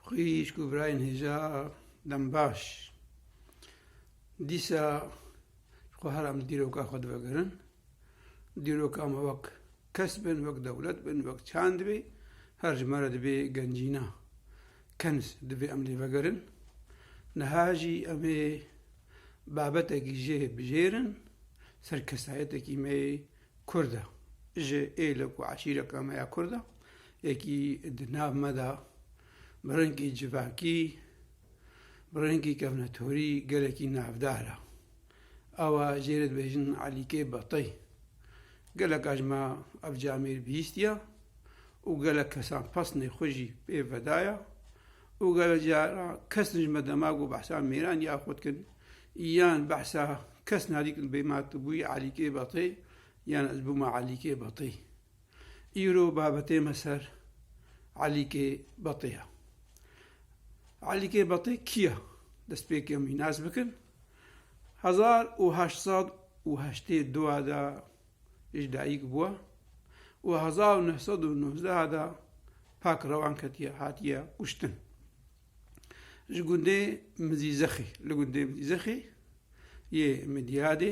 Xwîşk û birayên hêja dem baş. Dîsa xwe her em dîroka xwe divegirin. Dîroka me wek kes bin, wek dewlet bin, wek çand bê, her ji me re divê gencîna kens divê em lê vegerin. Niha jî em ê babetekî jê bijêrin, ser kesayetekî me yê Kurd e. Ji êlek û eşîreka me ya Kurd e. Yekî di nav me de bi rengî civakî, bi rengî kevnetorî gelekî navdar e. Awa jê re dibêjin Elîkê Betey. Geleka ji me ev camêr bihîstiye û gelek kesan pesnê xwe jî pê vedaye û gelek caran kesin ji me dema ku behsa mêranî ya xwe dikin yan behsa kesna dî kin bê ma tu bûyî Elîkê Betey yan ez bûma Elîkê Betey. Îro babetê me ser Elîkê Betê ye. Elîkê Betê kî ye? Destpêkê mînas bikin. Hezar û heşt sed û heştê du de ji dayîk bûye û hezar û neh sed û nozdeh de pak rewan ketiye hatiye kuştin. Ji gundê Mizîzexê li gundê Mizîzexê yê Midiyadê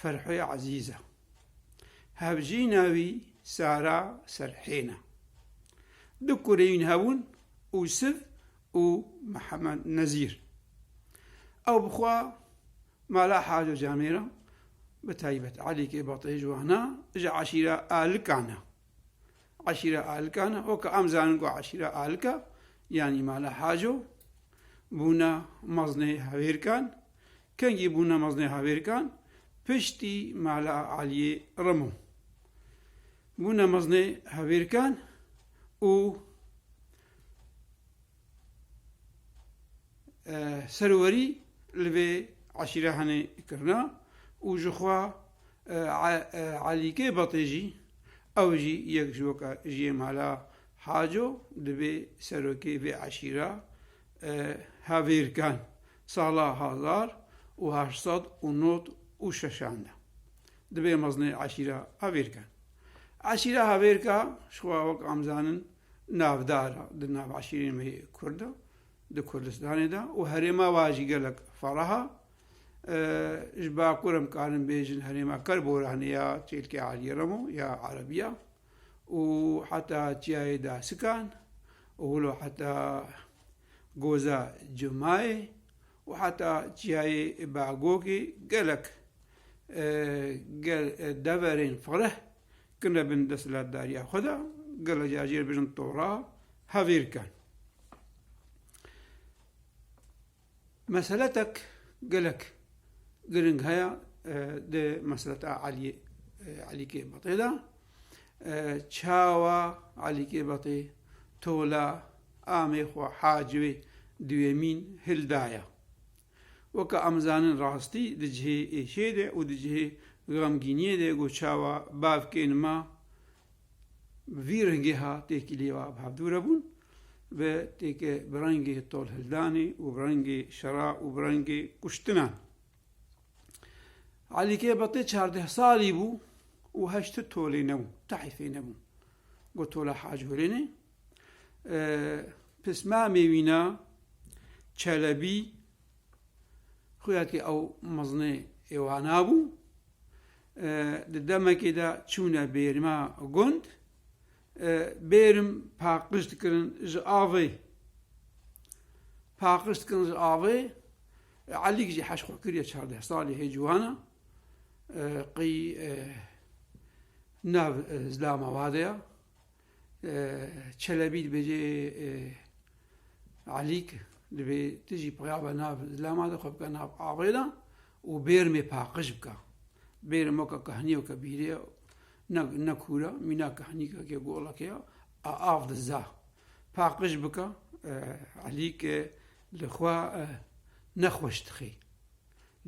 Ferhê Ezîz e. Hevjîna wî Sara Serhên e. Du kureyên hebûn Ûsiv û Mihemed Nezîr. Ew bi xwe mala Haco Camê re bi taybet Elîkê Batê ji wan e, ji eşîra Alikan e. Eşîra Alikan e, weke em zanin ku eşîra Alika yanî mala Haco bûne mezinê hevêrkan Kengî bûne meznê havêrkan piştî Mala Elîyê Remo. Bûne meznê havêrkan û serwerî li vê eşîre henê kirina û ji xwe Elîkê Betê jî ew jî yek ji weke jiyê Mala Haco dibê serokê vê eşîra havêrkan Sala hezar û heşt sed û nod û şeşan de dibê mezinê eşîra Hevêrke. Eşîra Hevêrke ji xwe wek em dizanin navdar e di nav eşîrên wê Kurd de di Kurdistanê de û herêma we jî gelek fereh e. Ji bakur em karin bêjin herêma Kerboranê ya Çêlkê Elî Remo ya Erebî ya. û heta çiyayê Dasikan û wilo heta Goza Cumayê û heta çiyayê Bagokê gelek deverên fereh kirine bin desthilatdariya xwe de, gelek jî ajê re bêjin tora hevêrkan. Meseletek gelek giring heye di meseleta Elî Elî Kêbatê de. Çawa Elî Kêbatê tola amê xwe Hacivê Duyemîn hil daye. Weke em zanin rastî di cihê êşê de û di cihê xemgîniyê de got çawa bavkên me Bi vî rengê ha têkilî va bi hevdû re bûn ve têke bi rengê tolhildanê û bi rengê şera û bi rengê kuştinan. Elî kê betê çardeh salî bû û heşti tolê nebû, tahîfê nebû. Got tola Hacî Hurênê. Pismamê wî na Çelebî Xuya ki ew meznê ê wana bû, di demekê de çûne bêrima gund, bêrim paqij dikirin ji avê. Paqij dikirin ji avê, Elîk jî heş xwe kiriye çardeh salî hê ciwana, qî nav zilama wa de ya, Çelebî dibêje Elîk dibê tu jî peyava nav zilama de xwe bika nav avê de û bêrmê paqij bika. Bêrê moka kahnîyo ke bîrê ne ne kûra mîna kahnîka ke goleke ya a av de za paqij bika Elîk li xwe nexweş dixê.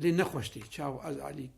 Lê nexweş tê çawa ez Elîk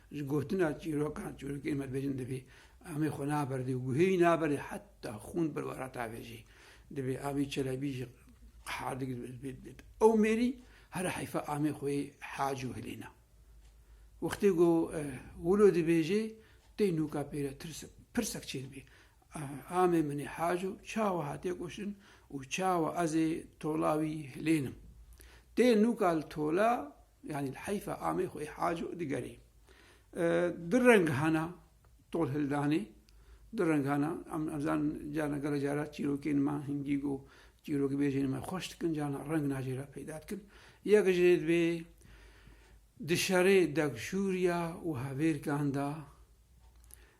Ji gotina çîrokan çîrokên me dibêjin divê Amê xwe naberdê û guhê wî naberdê heta xûn bi wara tavê jî. Divê Amî Çelebî jî qehadik bêt. Ew mêrî here heyfa Amê xwe yê hac û hilêna. Wextê ku wilo dibêjê tê nûka pêre tirsek pirsek çêdibê. Amê min ê Haco çawa hatiye kuştin û çawa ez ê tola wî hilênim. Tê nûka li tola yanî li heyfa amê xwe ê Haco digerê. Di rengana tol hildanê, di rengana em em zanin carna gelo cara çîrokên me hingî got çîrokbêjên me xweş dikin carna reng na jê re peyda dikin. Yek jê divê di şerê dekjûriya û hevêrkan de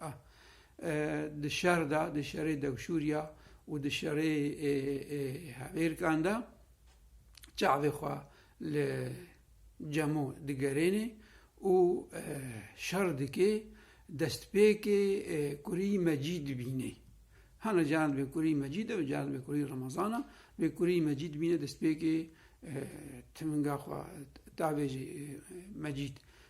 A. Di şer de, di şerê Dewşûrya û di şerê Hevêrkan de çavê xwe li Cemo digerênê û şer dikê, destpêkê kurî Mecîd dibînê. Hene caran divê kurî Mecîd e, caran divê kurî Remezan e. Divê kurî Mecîd bibîne destpêkê timinga xwe tavêjî Mecîd.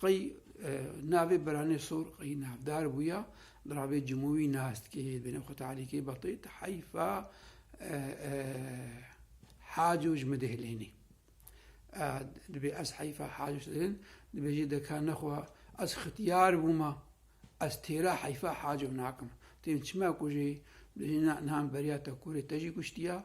Qey navê Biranê Sor qey navdar bûya li ravê Cimûwî nas dike yê dibêne xwe talîkê betê ti heyfa haco ji min dihilênê. Dibê ez heyfa haco ji dilin dibêjê deka nexwa ez xitiyar bûma ez têra heyfa haco nakim. Têm çima ku jê dibêjê na nihan beriya te kurê te jî kuştiya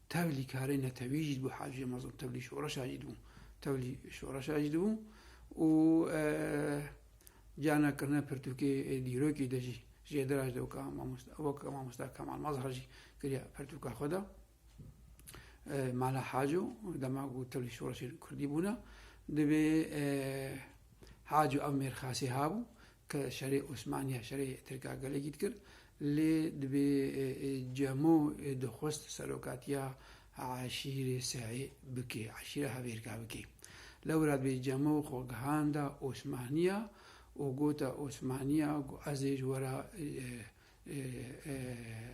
Tevlî karê netewî jî dibû Hacî Amazon, tevlî şoreşa jî dibû. Tevlî şoreşa jî dibû û cana kirina pirtûkê ê dîrokê de jî jêdira ji dewka mamosta wek mamosta Kemal Mazhar jî kiriya pirtûka xwe de. Mala Haco dema ku tevlî şoreşên Kurdî bûna divê Haco ev mêrxasî habû Ke şerê Osmaniya şerê Tirkagelekî dikir lê dibê Cemo dixwest serokatiya eşîrê Seê bike, eşîra Hevêrka bike. Lewra dibê Cemo xwe gihanda Osmaniya û gota Osmaniya ku ez ê ji we re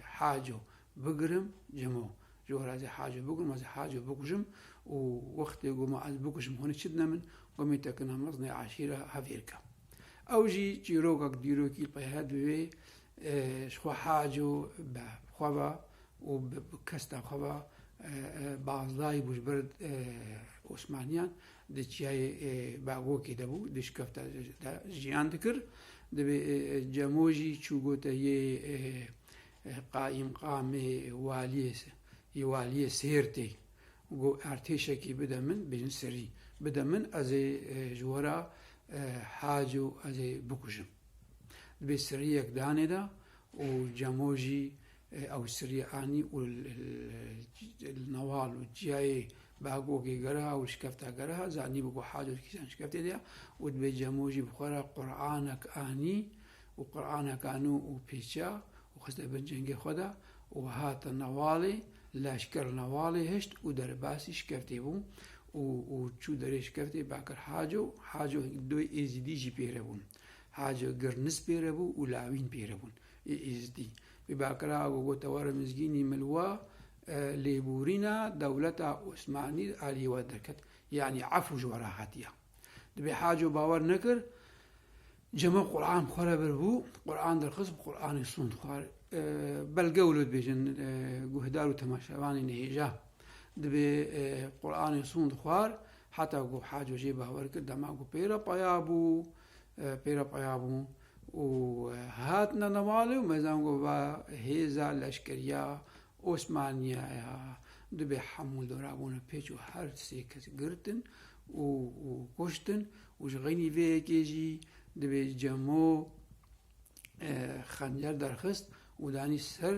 Haco bigirim cimo. Ji wan re ez ê Haco bigirim, ez ê Haco bikujim û wextê ku ma ez bikujim hûn ê çi dine min? Ku min tekina mezinê eşîra hevêr ke. Ew jî çîrokek dîrokî qehet bi wê ji xwe Haco bi xwe ve û bi kesta xwe ve baz dayî bû ji ber Osmaniyan di çiyayê Bagokê de bû dişkefte jiyan dikir. Divê Cemo jî çûgote yê qaîmqamê waliyê yê waliyê Sêrtê go ertêşekî bide min bêjin serî bide min ezê ji wera haco ezê bikujim. Divê seriyek danêda û Cemo jî Ewsirya anî û li Nawal û Ciyayê bi agogê gereha û şikefta gereha zanî bû ku Hado di kîjan şikeftê de ye û dibê Cemo jî bi xwe re Qur'anek anî û Qur'anek anû û pêça û xiste bin cengê xwe de û hate Nawalê. Leşker li Nawalê hişt û derbasî şikeftê bû û û çû derê şikeftê Bakir Haco Haco doy Êzîdî jî pêre bûn. Haco Girnis pêre bû û Lawîn pêre bûn. Îzîdî bi Bakrago got eware mizgînî milwa lêbûrîna dewleta Osmanî aliyê we derket. Yanî efû ji we re hatiya. Dibê Haco bawer nekir cema Quran xwe re vir bû, Quran derxist bi Quranê sond xwar. Belge wilo dibêjin guhdar û temaşevanê nihêja. Dibê Quranê sond xwar heta ku Haco jê bawer kir dema ku pê re peya bû, pê re peya bû. û hatine nemalê û me zan ku va hêza leşkeriya Osmaniya ya dubê hemû dora bûne pêç û her sê kes girtin û kuştin û ji xeynî vê yekê jî dubê cemo xencer derxist û danî ser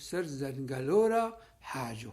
ser zengelo re haco.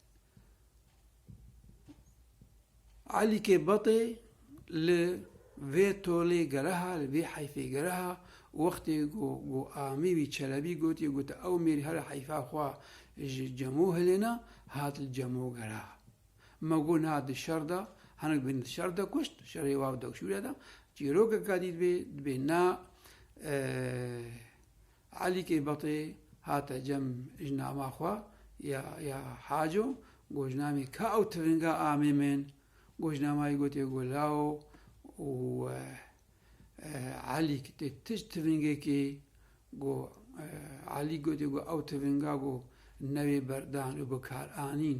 Elîkê Batê li vê tolê gereha, li vê heyfê gereha wextê ku ku amî wî Çelebî gotiye got ew mêrî here heyfa xwe ji Cemo hilêna hat li Cemo gereha. Me got niha di şer de hinek bin di şer de kuşt, şerê wav dewşûre de çîrokeke dî dibê dibê na Elî Kêbatê hate cem ji nama xwe ya ya Haco gojnamê Ka û Tivinga Amê min. Gojnamayê gotê ku law û Elîk tê tişt tivingekê ku Elîk gotê ku ew tivinga ku newê berdan û bikaranîn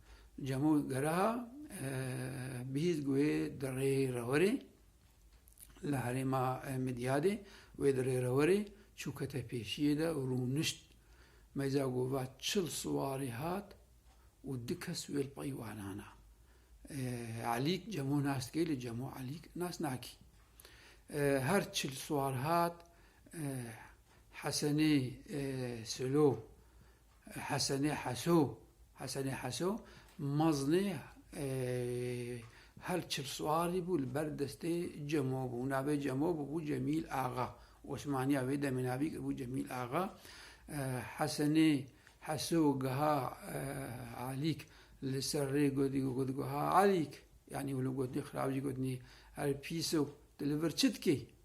Cemo Geraha bihîst ku wê di rê re were li herêma Midyadê wê di rê re were çû kete pêşiyê de û rûnişt. Meyza ku va çil siwarî hat û du kes wê li pey wan ana. Elîk Cemo nas dike lê Cemo Elîk nas nakî. Her çil siwar hat Hesenê Silo Hesenê Heso Hesenê Heso meznê her çil swarî bû li ber destê Cemo bû. Navê Cemo bûbû Cemîl Axa. Osmaniya wê demê navî kiribû Cemîl Axa. Hesenê Heso giha Alîk li ser rê gotguha Alîk yanî wilo gotinî xirab jî gotinî her pîs o tu li vir çi dikî?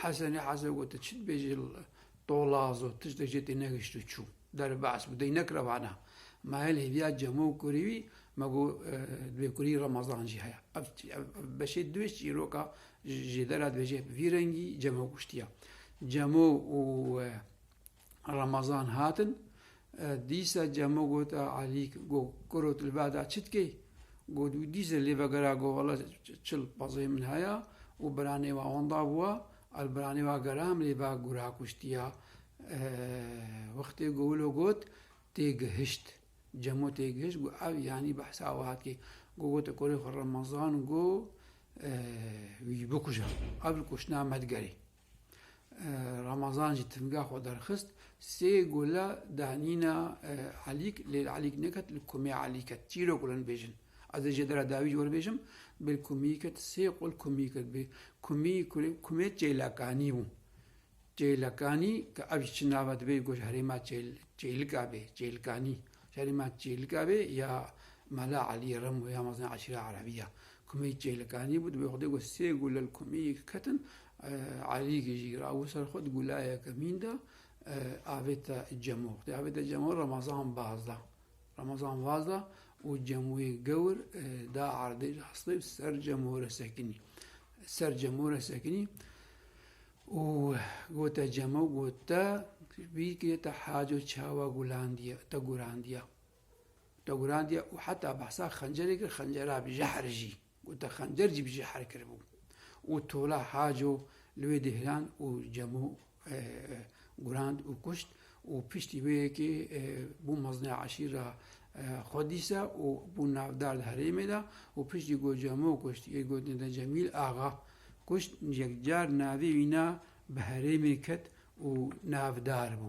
Hesenê Heze got tu çi dibêjî tolaz û tiştek jê tê negihişt û çû. Derê behs bû, deng nekira vana ma hêl hêviya cemo û kurî wî, ma got divê kurî Remezan jî heye. Ev ev beşê di wê çîroka jêdera dibêje vî rengî cemo kuştiya. Cemo û Ramazan hatin, dîsa Cemo got a Alîk go kuro tu li ba da çi dikey? Got wî dîsa lê vegera go wela çil pezê min heye û biranê wa wenda bûwa a li biranê wa gera min lê ba gura kuştiya. Wextê go wilo got tê gihişt. Cemo tê gihişt got ev yanî behsa wiha dikê. Go gote korê xwe Ramazan go wî bikuje. Ev li kuştina me digerê. Ramazan jî timga xwe derxist, sê gule danîna Elîk lê li Elîk neket li Kumê Elî ket. Çîrok gule nibêjin. Ez ê ji dera dawî jî werbêjim, bi li Kumî ket, sê qul Kumî ket. Bi Kumî, Kumê Çêlekanî bû. Çêlekanî ke ev jî çi nava divê goş herêma Çêlika bê, Çêlkanî. Herêma Çêlika bê ya Mela Elî Remo ya mezin eşîra Erebî ya. Kumî çêlikanî bû, divê Xwedê got sê gule li kumîyê ke ketin, Elî gijî ra û ser xwe di gulayeke mîn de avê te cemo. Xwedê avê te cemo Remezan baz da. Remezan vaz da û cemûyê gewr da erdê ji hestê û ser cemo re sekinî. Ser cemo re sekinî û gote cemo got te bî kirê te haco çawa gulandiye te gurandiya. Dewrandiye û heta behsa xencerê kir xencera bi jehr jî gote xencer jî bi jehr kiribû û tola haco li wê dihlan û cemo gurand û kuşt û piştî wê yekê bû mezina eşîra Xwedîsa û bû navdar di herêmê de û piştî ku cemo kuşt yê gotin de Cemîl Axa kuşt yekcar navê wî na bi herêmê ket û navdar bû.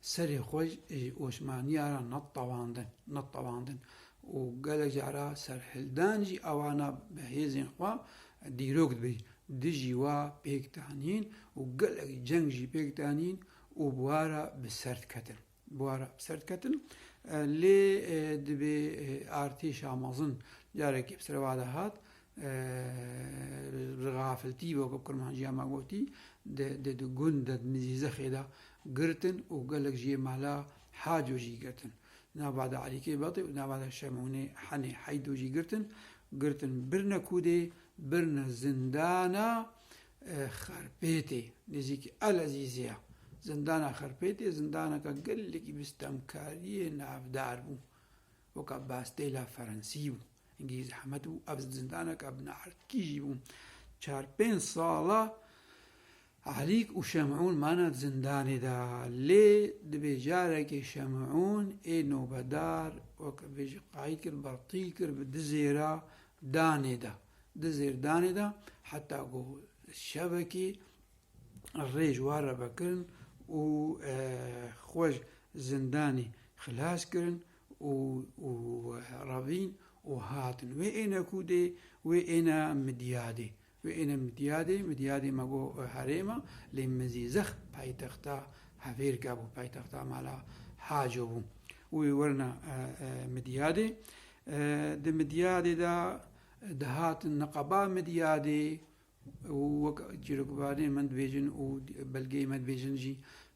Serê xwe ji Osmaniya re netewandin, netewandin û gelek cara serhildan jî awana bi hêzên xwe dîrok dibî. Dijî wa pêk danîn û gelek ceng jî pêk danîn û bi wa re bi ser diketin. Bi wa re bi ser diketin. Lê dibê artêşa mezin carekê bi serê wa de hat, Li Rafiltî weke kurmanciya me gotî di di gund de di nizî zexê de girtin û gelek ji yê mala Haco jî girtin. Di nava de Elîkê Betê û di nava de Şemonê Henê Heydo jî girtin. Girtin birine kûdê, birine zindana Xerpêtê nêzîkî El Ezîzê ye. Zindana Xerpêtê zindaneke gelekî bi stemkariyê navdar bû. Weka Bastêla Ferensî û Îngîlîzî heme du ev zindaneke bineherdkî jî bûn. Çar pênc sala Elîk û Şemûn mane di zindanê de. Lê dibê carekê Şemûn ê nobedar weke vê jî qayîl kir, bertîl kir bi di zêra danê de. Di zêr danê de heta ku şevekê rê ji wan re vekirin û xwe ji zindanê xilas kirin. û û ravîn û hatin. Wê êne ku dê wê êne Midyadê. Wê êne Midyadê, Midyadê me got herêma lê Mizîzex paytexta Hevêrka bû, paytexta mala Haco bû. Wê werna Midyadê. Di Midyadê de dihatin niqaba Midyadê û wek çîrokvanê me dibêjin û belgeyê me dibêjin jî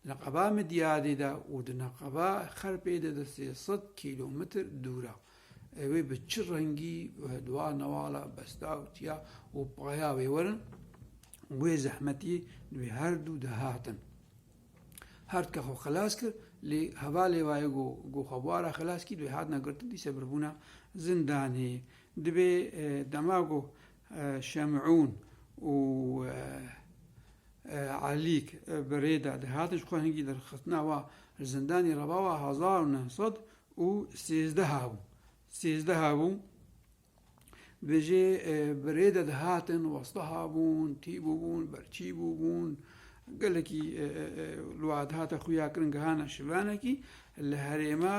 li qeba Midyadê de û di nexeba Xerpê de di sê sed kîlometr dûr e. Ew ê bi çi rengî wê dua newala besta û tiya û paya wê werin û wê zehmetiyê li wê her du de hatin. Herdke xwe xilas kir lê hevalê wayê ku ku xwe bûara xilaskî li wê hatine girtin dîse biribûna zindanê. Divê dema ku Şemûn û Elîk bi rê de dihatin ji xwe hingî derxistina wan li zindanê rebawa hezar û neh sed û sêzdeh a bû. Sêzdeh a bû bi jê bi rê de dihatin westaha bûn, tî bûbûn, berçî bûbûn, gelekî li wan dihate xuya kirin gihana şivanekî li herêma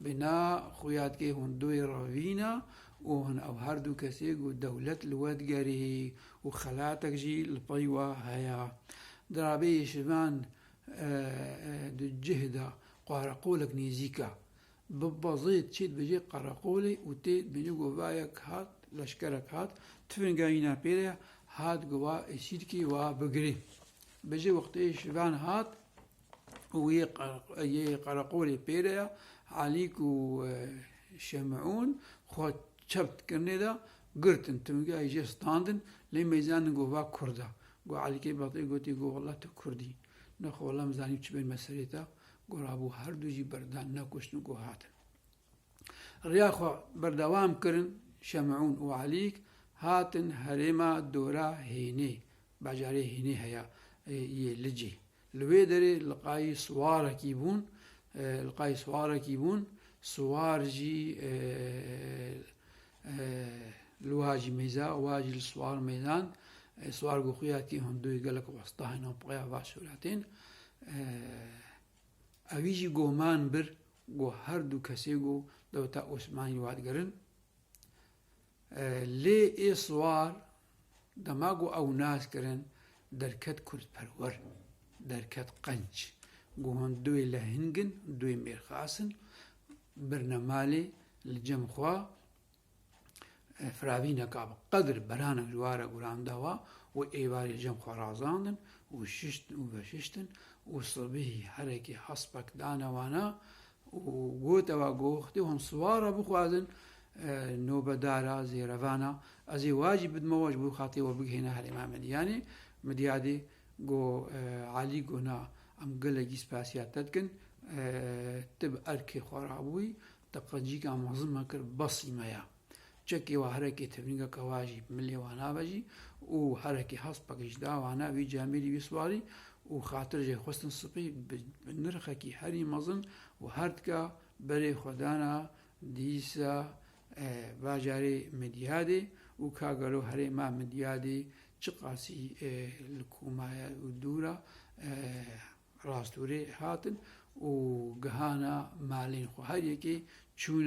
Bina xuyadkê hûn duyê re vîna û hin ew her du kesê ku dewlet li we digerî û xelatek jî li pey we heye. Dirabê yê şivan di cih de qareqolek nêzîk e. Bibba zêd çê dibêjê qareqolê û tê dibêjê govayek hat, leşkerek hat, tifin geyîna pê re, hat gova Êsîrkê wa bigirê. Bi jê wextê şivan hat. û yê yê qereqolê pê de ya Elîk û Şemûn xwe çep dikirinê de girtin timgehê jê standin lê mêzanin got va kurd e. Got Elîkê Betî gotî got wela tu kurd î. Nexwe wela em zanîm çi bên me serê te. Got rabû her du jî berdan nekuştin got hatin. Riya xwe berdewam kirin Şemûn û Elîk hatin herêma Dora Hênê, bajarê Hênê heya yê Licê. Li wê derê liqayî siwarekî bûn, liqayî siwarekî bûn, siwar jî li wiha jî mêza, wiha jî li siwar mêzan. Siwar ku xuya tî hunduy gelek wasta hêna peya va sûretên. Ewî jî goman bir Ku her du kesê ku dewleta Osmanî wan kirin. Lê ê siwar dema ku ew nas kirin derket kurdperwer, derket qenc. Ku hûn duê lehing in, duê mêrxas in, birnemalê li cem xwe. Firavîneka bi qedr beranek ji ware guran da wa û êvarê cem xwe razandin û şiştin û veşiştin û sibihî herekê hespek dane wana û gote wa gox dê hûn siwara bixwazin nobedara zê revana ez ê wa jî bidime wa ji bo xatirê we bigihêne herê me min yanî midyadê go Elî go na em gelekî spasiya te dikin tu bi erkê xwe rabûyî Te qencîka mezin me kir besî me ya. Çekê wa herekê tevnîgeke wa jî milê wa navejî û herekê hespek ji da wa ne wî cemêrî wî siwarî û xatir jê xwestin sipî bi nirxekî herî mezin û her tika berê xwe dana dîsa bajarê Midyadê û ka gelo herê ma Midyadê çiqasî li ku ma ye û dûr a Rastûrê hatin û gihana malên xwe. Her yekê çûne.